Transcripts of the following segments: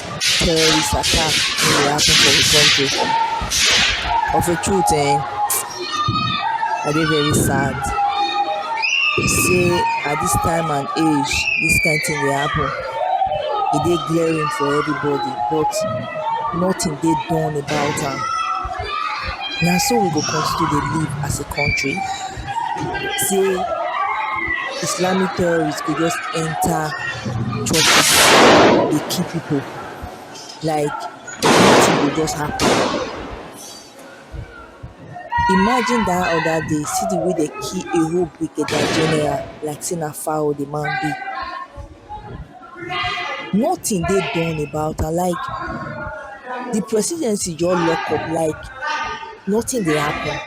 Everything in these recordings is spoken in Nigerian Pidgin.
terrorist attack wey dey happen for we country of a truth um I dey very sad sey at dis time and age dis kind thing dey happen e dey glaring for everybody but nothing dey done about am na so we go continue to dey live as a country. say islamic terrorists go just enter churches dey kill people like nothing go just happen imagine that other day see the way dem kill a whole brigadier general like say na fowl the man be nothing dey done about am like the presidency just lock up like nothing dey happen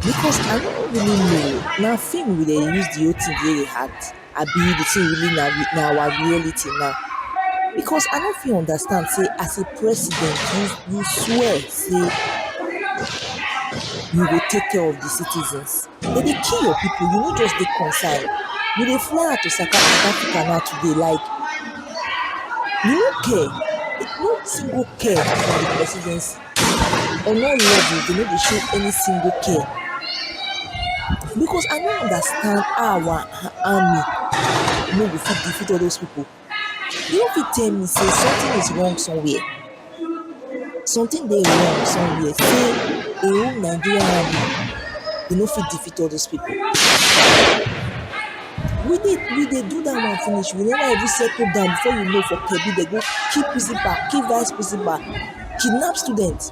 because i no really know na film we dey use the whole thing take dey act abi the thing really na na our reality na because i no fit understand sey as a president you you swear sey you go take care of the citizens. They dey kill your people, you no just dey concern. You dey fly out to South Africa now today like you no care, no single care for the presidency. On all levels, they no dey show any single care. Because I no understand how our army no go fit defeat all those people. You no fit tell me sey something is wrong somewhere something dey wrong somewhere sey de whole Nigerian army dey no fit defeat all those people we dey we dey do dat one finish we never even settle down before you know for Kebbi dem go kill principal kill vice principal kidnap students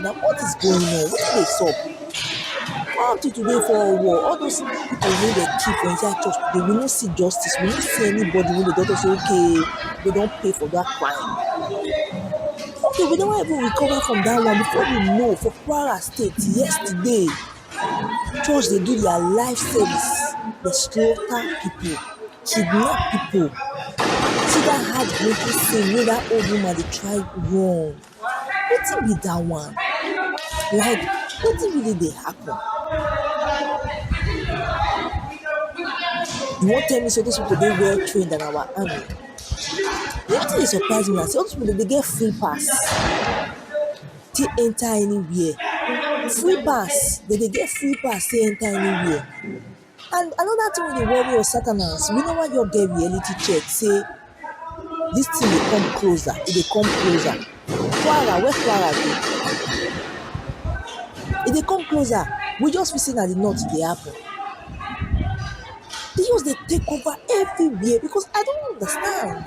na what is going on wetin dey sup how people dey fall war all those people wey dem kill for inside church today we no see justice we no see anybody wey go tell us say okay we don pay for that crime okay we never even recover from that one before we know for kwara state yesterday church dey do their life service dey slaughter people kidnap people see that heartbreaking scene wey that old woman dey try run. Wetin be that one? Like wetin really dey happen? You wan tell me say this people dey well trained than our army? Wetin dey surprise me na say all this people dem dey get free pass take enter anywhere, free pass, dem dey get free pass take enter anywhere. And another thing wey dey worry us Satanans, we never just get reality check say this thing dey come closer, e dey come closer. Kwara, where Kwara dey? E dey come closer. We just feel say na the north e dey happen. E just dey take over everywhere because I don't understand.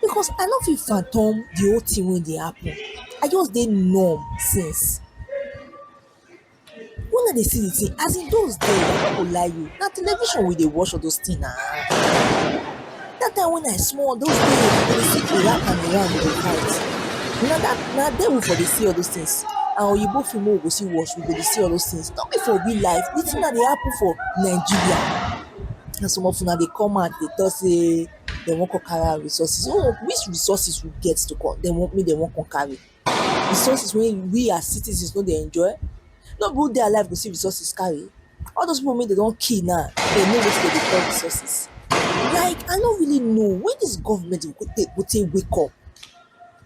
because I no fit fathom the whole thing wey dey happen. I just dey numb since. When I dey see the thing, as e dose dey, I no go lie you, na television we dey watch all dose things na. Dat time when I small, dose days we dey see Iraq and Iran dey fight. Na dat na there we for dey see all dose things. Na Oyinbo film wey we go still watch, we go dey see all dose things. No be for real life. The thing na dey happen for Nigeria. Na some of una dey come out dey talk sey dey wan come carry out resources so which resources we get to come dey wan make dey wan come carry resources wey we as citizens no dey enjoy no be who dey alive go see resources carry all those people wey dey don kill now dey know wetin dey dey call resources like i no really know when this government go take go take wake up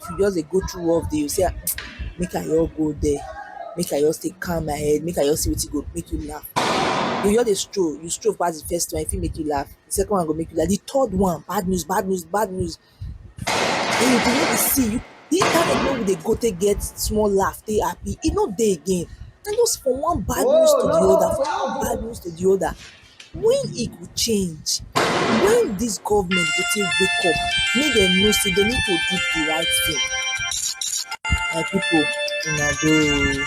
if you just dey go through work dey say make I just go there make I just take calm my head make I just see wetin go make me laugh you just dey stroll you stroll pass the first one e fit make you laugh the second one go make you laugh the third one bad news bad news bad news and you go no dey see you the internet wey we dey go take get small laugh take happy e no dey again na just from one bad news to the other from one bad news to the other When e go change? When this government go take wake up make dem know say dem need to do the right thing? My people una doh oo